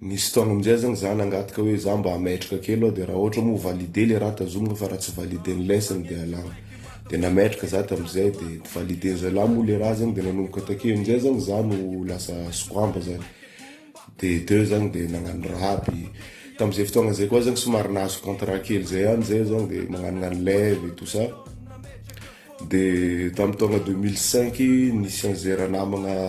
Nisy fotoagna amin'izay aho zany za nangataka hoe za mba hametraka kely aho de raha ohatra moa valide le raha tazomina fa raha tsy valide ny lesson de alagna. De nametraka za tamin'izay de valide zalahy moa le raha zany de nanomboka takeo amin'izay zany za no lasa squamba zany. De teo zany de nagnano raha aby. Tamin'izay fotoagna izay koa zany somary nahazo contrat kely zay ihany zay zany de magnanognano live et tout ça. De tamin'ny taogna deux mille cinq nisy an'izay ranamagna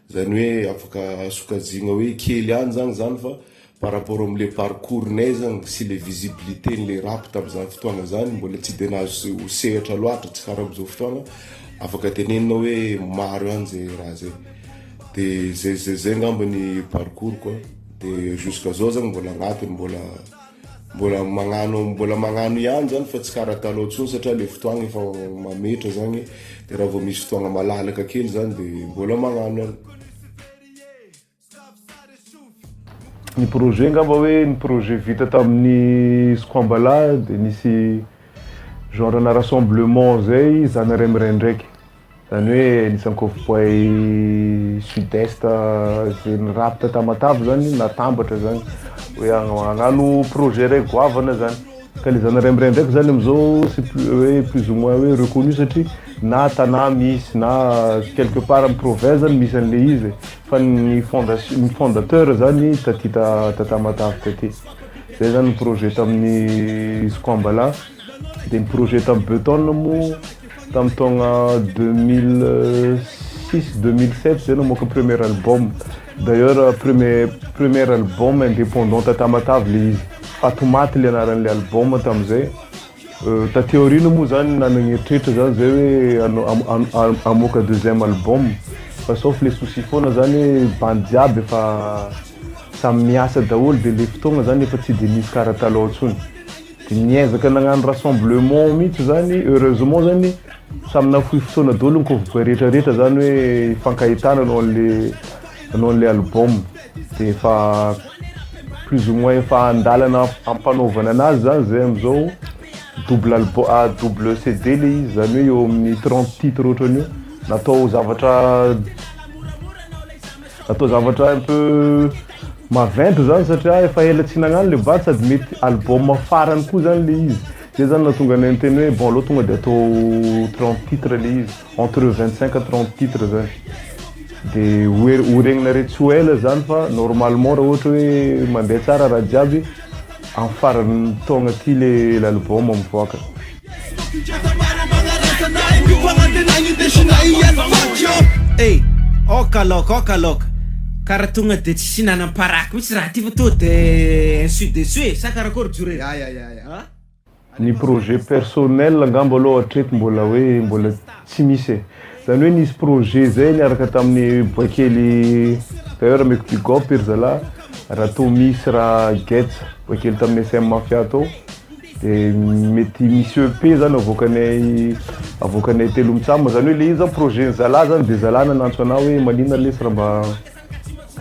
Zany hoe afaka sokajiagna hoe kely ihany zany zany fa par rapport am le parcours nay zany sy le visibilité ny le rap tam zany fotoagna zany mbola tsy de nahazo sehatra loatra tsy kara am zao fotoagna afaka tenenina hoe maro ihany ze raha ze de ze ze ze ngamba ny parcours ko de jusqu'à zao zany mbola agnatiny mbola Mbola magnano mbola magnano ihany zany fa tsy karaha talon tsony satria le fotoagna efa mametra zany de raha vao misy fotoagna malalaka kely zany de mbola magnano ihany. Ny projet ngamba hoe ny projet vita tamin'ny Squambala de nisy genre ana rassemblement zay zany ray miraidraika. Zany hoe nisy ankovoboay sud est ze nirapitra tamatavy zany natambatra zany hoe analo projet ray goavana zany ka le zanarem ray ndraiky zany amizao sy hoe plus ou moins hoe reconnu satria na tanà misy na quelque part am provins zany misy anle izy e fa ny fondation ny fondateur zany taty ta tamatavy taty zay zany ny projet taminy squambala Dia ny projet tamin'ny Beuton moa tamin'ny taogna 2006 2007 zay namoaka premier album. D'ailleurs premier premier album indépendant ta Tamatave le izy. Fatomaty le anaran'ilay album tamin'izay. Euh, taty aoriana moa zany nanagna eritreritra zany zay hoe ano- am- am- am- hamoaka deuxième album fa sauf le souci foana zany hoe bandy jiaby efa samy miasa daholo de le fotoagna zany efa tsy de misy karaha taloha intsony. Niezaka nagnano rassemblement mihitsy zany, heureusement zany samy nafoy fotoana daholo ny cowboy rehetra rehetra zany hoe hifankahitana anao an'le anao an'le album de efa plus ou moins efa andalana ampanaovana anazy zany zay amizao double album ah, double CD le izy zany hoe eo amin'ny 30 titre ohatran'io natao zavatra Atao zavatra un peu maventy zany satria efa ela tsy nagnano le bad sady mety album farany koa zany le izy. Zay zany nahatonga anay niteny hoe bon aleo tonga de atao 30 titres le izy, entre 25 à 30 titres zany. De hoer- horegninareo tsy ho ela zany fa normalement raha ohatra hoe mandeha tsara raha jiaby amin'ny faran'ny taogna ty le l'album mivoaka. Hey, oka loka, oka loka. Kara tonga de tsy hihinanam paraky mihitsy raha ty fa tonga de insu dessus e, sa karakory Jure? Ya ya ya ya. An? Ny projet personnel angamba aloha hatreto mbola hoe mbola tsy misy e. Zany hoe nisy projet zay niaraka tamin'ny Boaikely d'ailleurs ameko big up ry zalahy raha toa misy raha gets Boaikely tamin'ny SM Mafia tao. De mety misy EP zany avoakanay avoakanay telo mitsam zany hoe le izy zany projet ny zala zany de zala nanantso anah hoe manina lesy raha mba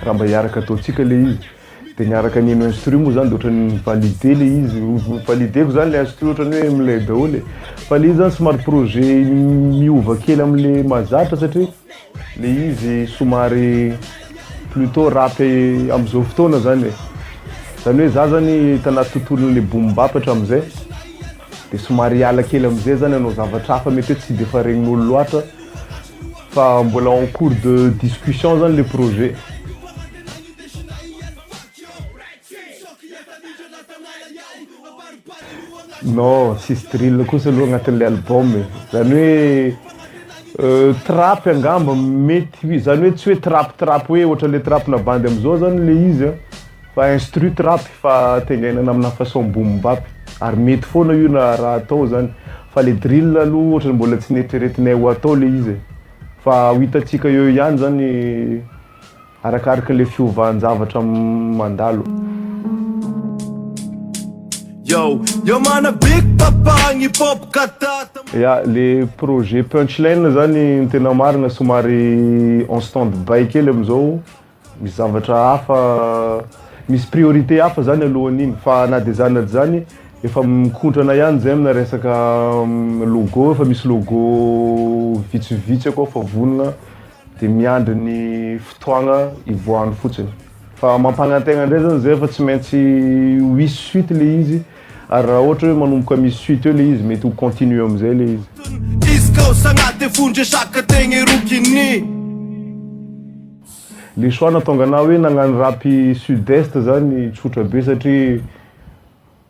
raha mba hiaraka ataontsika le izy de niaraka niheno instru moa zany de otrany ni valider le izy ni valider-ko zany le instru otrany hoe milay daholo e fa le izy zany somary projet miova kely amle mahazatra satria Le izy somary plutôt rap amzao fotoana zany e. Zany hoe za zany hita anaty tontolon'le boom bap hatramzay de somary hiala kely amzay zany hanao zavatra hafa mety hoe tsy defa regnin'olo loatra fa mbola en cours de discussion zany le projet. Non, tsisy drill kosa aloha agnatin'ilay album e. Zany hoe trap angamba mety, zany hoe tsy hoe trap trap hoe ohatran'ilay trap-na bandy am'zao zany ilay izy a, fa instru trap fa tengainana aminà façon boom bap, ary mety foana io na raha atao zany, fa le drill aloha ohatry ny mbola tsy neritreretinay ho atao le izy e, fa ho hitantsika eo ihany zany. Arakaraka le fiovahan javatra mandalo. Ya, le projet punchline zany ny tena marina somary en stand by kely amizao, misy zavatra hafa, misy priorité hafa zany alohan'iny fa na de zany na de zany efa mikontrana ihany zay amina resaka logo, efa misy logo vitsivitsy akao efa vonona. dia miandry ny fotoagna hivoahany fotsiny fa mampanantena indray zany zay fa tsy maintsy ho hisy suite le izy ary raha ohatra hoe manomboka misy suite eo le izy mety ho continue amizay le izy le choix nahatonga anah hoe nagnano rap sud est zany tsotra be satria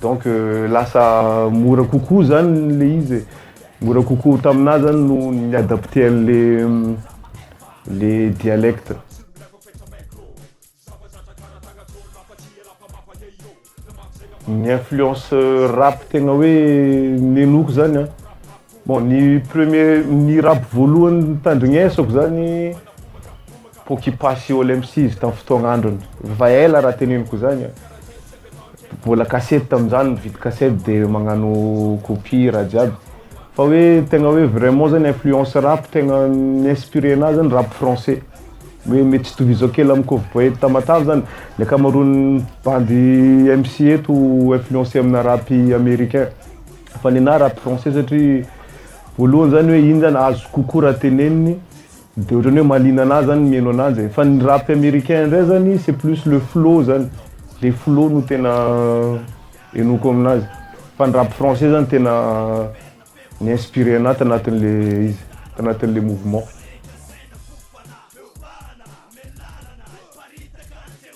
Donc lasa mora kokoa zany le izy e, mora kokoa taminah zany no ni-adapter anle le dialecte. Ny influence rap tegna hoe nenoko zany an. Bon ny premier ny rap voalohany nitandrinesako zany Pokipa sy All MC izy tam fotoagna androny efa ela raha teneniko zany a! Mbola cassette tamzany mividy cassette de magnano copie raha jiaby fa hoe tegna hoe vraiment zany influence rap tegna ni-inspirer anahy zany rap français hoe mety tsy tohizako kely am Cowboy Tamatave zany ny akamaroan'ny bandy MC eto influencer amina rap americain Fa ny anahy rap français satria voalohany zany hoe iny zany azo kokoa raha teneniny de ohatrany hoe mahaliana anahy zany ny mihaino ananjy e! Fa ny rap americain indray zany c'est plus le flow zany, le flow no tena henoiko aminazy. Fa ny rap français zany tena mi-inspirer anahy tanatin'le izy, tanatin'le mouvement.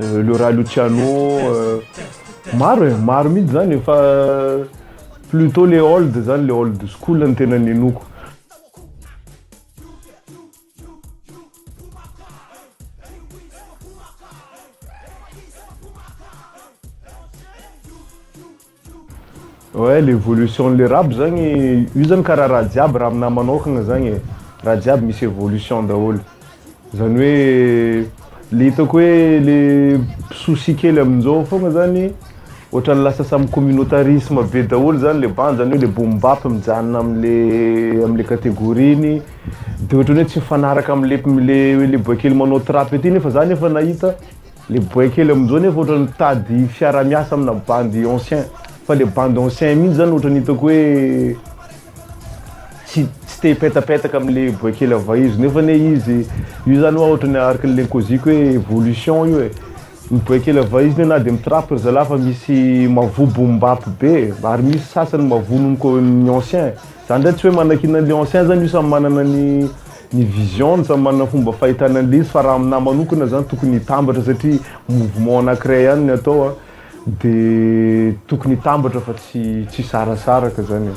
euh, le ra luciano euh, maro e maro mihitsy zany fa plutot le old zany le old school ny tena nenoko Ouais le evolution le rap zagny io zany karaha raha jiaby raha aminahy manaokagna zagny e, raha jiaby misy evolution daholo, zany hoe le hitako hoe le souci kely amin'izao fogna zany ohatran'ny lasa samy communautarisme be daholo zany le bandy zany hoe le boom bap mijanona amle amle categorie-ny de ohatran'ny hoe tsy mifanaraka amle amle boay kely manao trap ety nefa za nefa nahita Le boay kely amin'izao nefa ohatrany mitady fiara miasa amina bandy ancien fa le bandy ancien mihintsy zany ohatrany hitako hoe tsy tsy te hipetapetaka amle boay kely avy izy nefa anie izy io zany hoa ohatrany araka ny lenkoziko hoe evolution io e ny boay kely avy izy na de mitrapaka ry zalahy fa misy mavobo mibapy be ary misy sasany mavono ny ko- ny ancien zany ndray tsy hoe manakiana anle ancien zany io samy manana ny Ny vision no samy manana fomba fahitana an'ilay izy fa raha aminahy manokana zany tokony hitambatra satria mouvement anakiray ihany ny atao a, de tokony hitambatra fa tsy tsy hisarasaraka zany e.